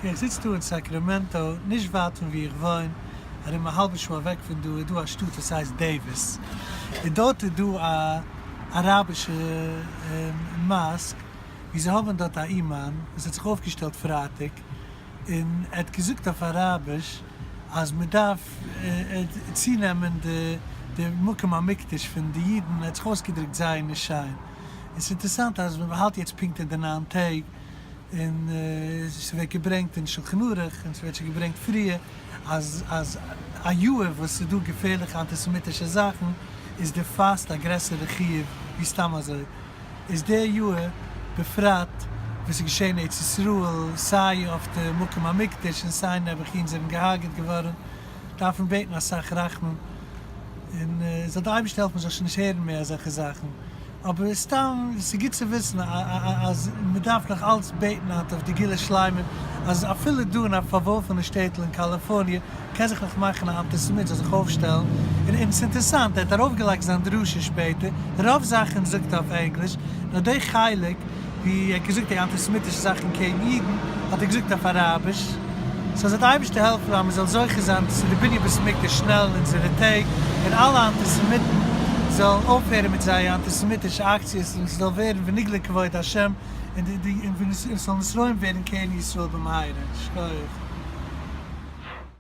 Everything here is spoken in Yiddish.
איך זיץ דא אין סאקרעמענטא, נישט ווייט פון וואו איך וואוין, ארום א האלבע שעה אוועק פון דא איז דא א שטאט וואס הייסט דעיוויס, און דארט איז דא א אראבישע מאסק, וואו זיי האבן דארט א אומאן וואס האט זיך אויפגעשטעלט פרייטאג, און ער האט געזאגט אויף אראביש אז מען דארף צונעמען די מקום המקדש פון די אידן, ער האט זיך אויסגעדרוקט זייער נישט שיין, און ס'איז אינטערעסאנט אז ווען מען האלט יעצט פונקט אין די ניין טעג, און ס'ווערט געברענגט אין שלחן ערוך און ס'ווערט שוין געברענגט פריער אז אז א יאר וואס ס'איז דא געפערליכע אנטיסעמיטישע זאכן איז די פאסט א גרעסערע חיוב ווי סתם אזוי. איז די יאהר בפרט וואס איז געשעהן ארץ ישראל סיי אויף די מקום המקדש און סיי נעבעכין זענען געהארגעט געווארען דארף מען בעטן אסאך רחמים און זאל די אייבישטער העלפן מ'זאל שוין נישט הערן מער אזעלכע זאכן אבער סתם ס'איז גוט צו וויסן אז מ'דארף נאך אלץ בעטן היינט אויף די גאולה שלימה אז אפילו דא אין א פארווארפענע שטעטל אין קאליפארניע קען זיך נאך מאכן א אנטיסעמיט זאל זיך אויפשטעלן און אונז אינטערסאנט ער האט ארויפגעלייגט זיין דרשה שפעטער רוב זאכן זאגט ער אויף ענגליש נאר דעי חלק ווי ער האט געזאגט דעי אנטיסעמיטישע זאכן קעגן אידן האט ער געזאגט אויף אראביש סא זאל די אייבערשטער העלפן אז מען זאל זוכה זיין צו די בנין בית המקדש שנעל אין אונזערע טעג און אלע אנטיסעמיטן זאלן אויפהערן מיט זייער אנטיסעמיטישע אקציעס און ס'זאל ווערן ונגלה כבוד השם און ס'זאל נשרעים ווערן קרן ישראל במהרה. שכוח.